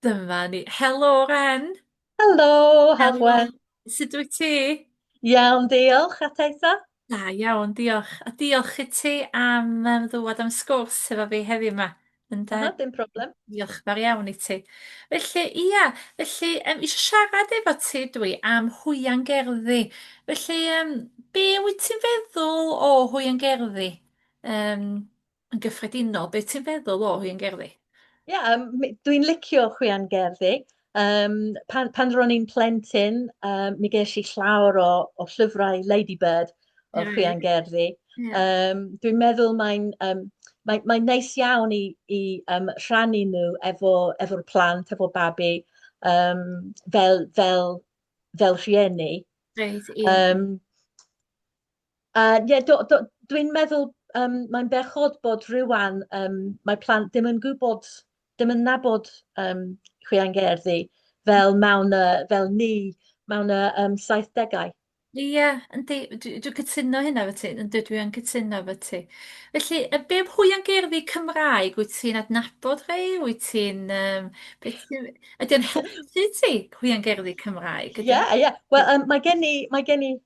Dyma ni. Helo, Ren! Helo, Hafwen! Sut wyt ti? Iawn, diolch. A ti ta? Da iawn, diolch. A diolch i ti am um, ddwad am sgwrs efo fi heddiw yma. Ynde? Aha, dim problem. Diolch fawr iawn i ti. Felly, ia, felly, um, eisiau siarad efo ti dwi am hwyan gerddi. Felly, um, be wyt ti'n feddwl o hwyan gerddi? Um, Yn gyffredinol, beth ti'n feddwl o hyn gerddi? Ie, yeah, um, dwi'n licio chwian gerddi. Um, pan, pan ro'n i'n plentyn, um, mi ges i llawr o, o llyfrau Ladybird o mm. chwian gerddi. Yeah. Um, dwi'n meddwl mae'n um, mae, mae neis iawn i, i um, rhannu nhw efo'r efo plant, efo babi, um, fel, fel, fel rhieni. Right, yeah. um, Yy ie do- do- dwi'n meddwl yym mae'n bechod bod rŵan yym mae plant ddim yn gwybod dim yn nabod yym Chwilen Gerdd fel mewn yy fel ni mewn y yym saithdegau. Ie yndi dwi dwi cytuno hynna efo ti yndw dwi yn cytuno efo ti. Felly yy be' am hwyl gerddi Cymraeg wyt ti'n adnabod rhei wyt ti'n yym be' ti'n ydi o'n helpu ti hwyl gerddi Cymraeg ydi? Ie ie wel yym mae gen i mae gen i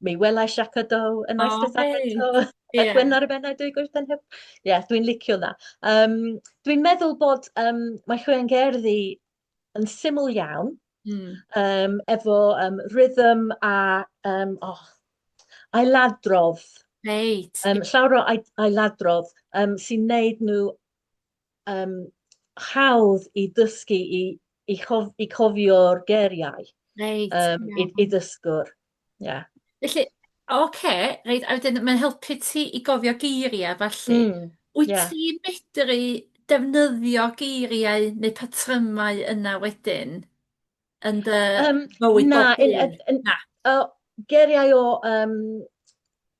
Mi welais Jacques Cousteau yn Eisteddfod oh, hey. yeah. Gwen ar y Bennau dwy gwrs yn hyb. Ie, yeah, dwi'n licio na. Um, dwi'n meddwl bod um, mae Chwian Gerddi yn syml iawn, mm. um, efo um, rhythm a um, oh, ailadrodd. Reit. Um, llawr o ailadrodd um, sy'n neud nhw um, hawdd i dysgu i, i, chof, i cofio'r geriau right, um, yeah. i, i dysgwr. Yeah. Felly, oce, okay, reit, a wedyn mae'n helpu ti i gofio geiriau, falle. Mm, Wyt yeah. ti'n medru defnyddio geiriau neu patrymau yna wedyn yn dy um, bywyd na, bob un? Na, uh, geiriau o um,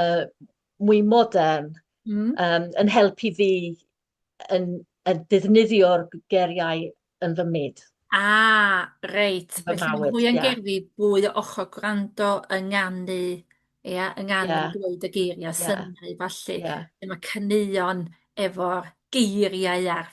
yy mwy modern... Mm. ...yym yn helpu fi yn yn defnyddio'r geiriau yn fy myd. Ah, reit. Yn fy mywyd, ie. Felly mwy yn gerddi, fwy o ochr gwrando, ynganu, ia, ynganu... Ie. ...dweud y geiria'... Ie. ...synnu ballu... Ie. ...lle ma' caneuon efo'r geiriau a'r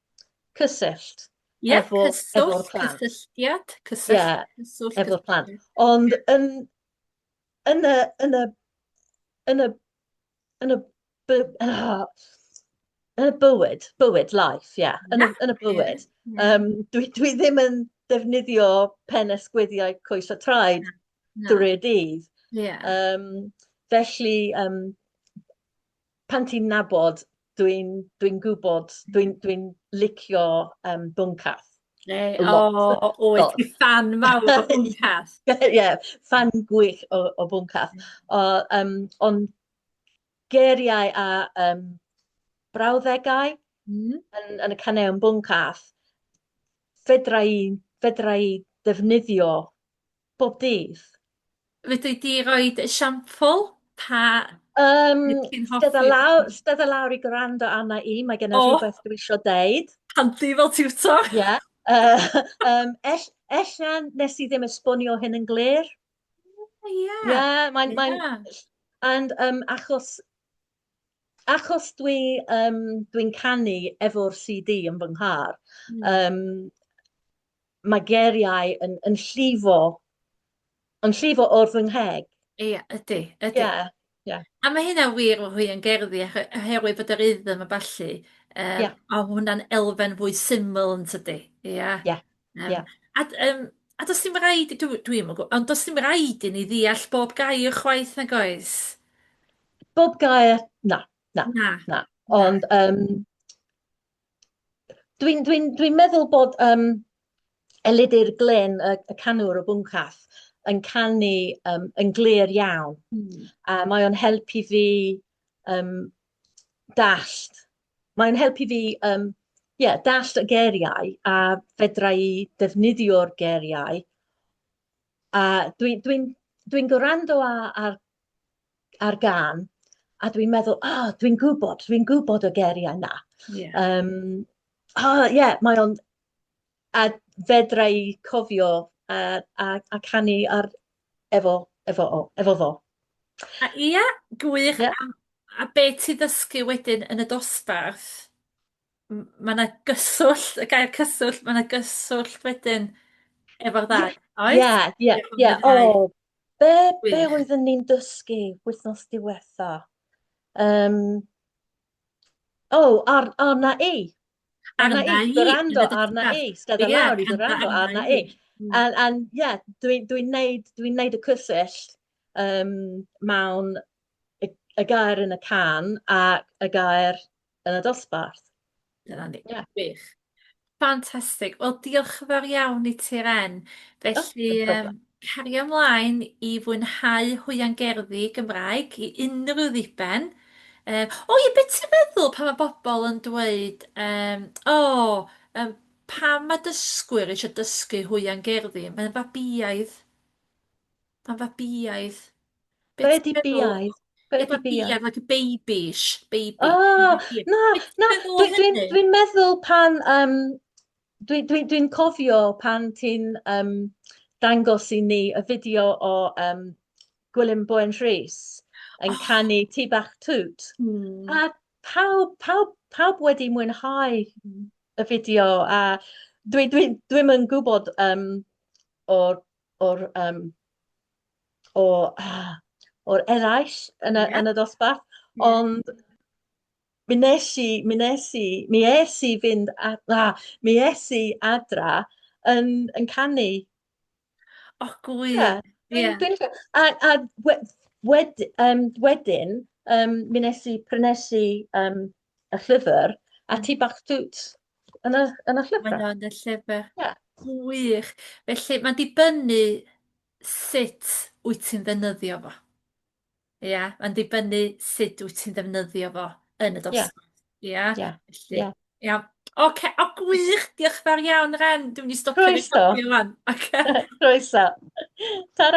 cysyllt Ie, efo, cyswllt, plant. cysylltiad, cyswllt, yeah, cyswllt, efo plant. Ond yn, yn y, yn y, yn y, yn y, ah, yn y bywyd, bywyd, life, ie, yeah, yn, y, yn y bywyd. Um, dwi, dwi ddim yn defnyddio pen esgwyddiau coes a traed drwy'r dydd. Yeah. Um, felly, um, pan ti'n nabod dwi'n dwi'n gwybod dwi'n dwi'n licio um, bwncath. Hey, o, o, o, o, ti fan mawr o bwncath. Ie, yeah, fan gwych o, o bwncath. O, um, ond geiriau a um, brawddegau mm. yn, yn y caneu yn bwncath, fedra i, fedra i ddefnyddio bob dydd. Fedri di roid esiampl pa... Yym Beth ti'n hoffi? Stedda lawr, stedda lawr i gwrando arna i, mae genna O! rhywbeth dwi isio deud. Handi fel tiwtor. Ie. Yy yym ell- ella nes i ddim esbonio hyn yn glir. Ie. Ie, mae'n mae'n... Ie. And yym achos achos dwi um, dwi'n canu efo'r CD yn fy nghar, mm. um, mae geriau yn, yn llifo, yn llifo o'r fy ngheg. Ie, yeah, ydy, ydy. Yeah. Yeah. A mae hynna wir o hwy yn gerddi, oherwydd bod yr iddym a balli, um, yeah. a hwnna'n elfen fwy syml yn tydi. Ie. Yeah. Yeah. Yym... Ia. ...a d- yym a does dim raid i dw- dwi'm yn gw- ond does dim raid i ni ddeall bob gair chwaith nag oes? Bob gair, na, na, Na. na. Ond yym dwi'n dwi'n dwi'n meddwl bod yym Elidir Glyn y, y canwr o Bwncath yn canu um, yn glir iawn. Mm. A mae o'n helpu fi um, dallt Mae'n helpu fi um, yeah, dallt y geriau a fedra i defnyddio'r geriau. A dwi'n dwi, dwi, gorando ar, ar gan a dwi'n meddwl, o, oh, dwi'n gwybod, dwi'n gwybod y geriau na. Yeah. Um, oh, yeah, mae o'n... A fedra i cofio a, a, a canu ar, efo efo o, efo fo. A ia, gwych. Yeah. A, a be ti ddysgu wedyn yn y dosbarth, mae yna gyswllt, y gair cyswllt, mae yna gyswllt wedyn efo'r ddau, oes? Ia, ia, ia. O, be, be oeddwn ni'n dysgu wythnos diwetha? Um, o, oh, ar, arna i. Arna i, gwrando arna i, stedd yn lawr i gwrando arna i. A'n, ie, dwi'n dwi neud, dwi neud y cysyll um, mewn y, y gair yn y can a y gair yn y dosbarth. Dyna ni, yeah. gwych. Fantastig. Wel, diolch yn fawr iawn i ti, Ren. Felly, oh, um, Cario mlaen i fwynhau hwiangerddi Gymraeg i unrhyw ddiben. Yy, o ie, be' ti'n meddwl pan ma' bobol yn dweud yym, "O, yym, pam ma' dysgwyr isio dysgu hwiangerddi? Mae'n fabïaidd. Mae'n fabïaidd." Be' Be' ti'n 'di meddwl? biaidd? Be' Ie, 'di biaidd? fabïaidd, like a babyish, baby. O, na, na, dwi dwi'n dwi'n meddwl pan yym Dwi'n dwi, dwi cofio pan ti'n um, dangos i ni y fideo o um, Gwilym Boen Rhys yn oh. canu Ti Bach Tŵt. Mm. A pawb, pawb, pawb wedi mwynhau hmm. y fideo a dwi'n dwi, dwi, dwi yn gwybod um, o'r, or, um, o, ah, o'r eraill yn y, yeah. yn y dosbarth, yeah. ond Mi nes i, mi nes i, mi es i fynd, a, a, mi es i adra yn, yn canu. O, gwy. Yeah. Yeah. Dwi'n, dwi'n, a, a we, wed, um, wedyn, um, mi nes i prynesu um, y llyfr, a ti bach dwt yn y, yn y llyfr. Mae'n yn y llyfr. Yeah. Gwych. Felly, mae'n dibynnu sut wyt ti'n ddefnyddio fo. Ia, mae'n dibynnu sut wyt ti'n ddefnyddio fo yn y dosbarth. Ia. Ia? Ia. Felly, ia. Iawn. Ocê, o gwych! Diolch yn fawr iawn, Ren. Dwi'n mynd i stopio recordio ŵan. Ocê. Croeso. Tara.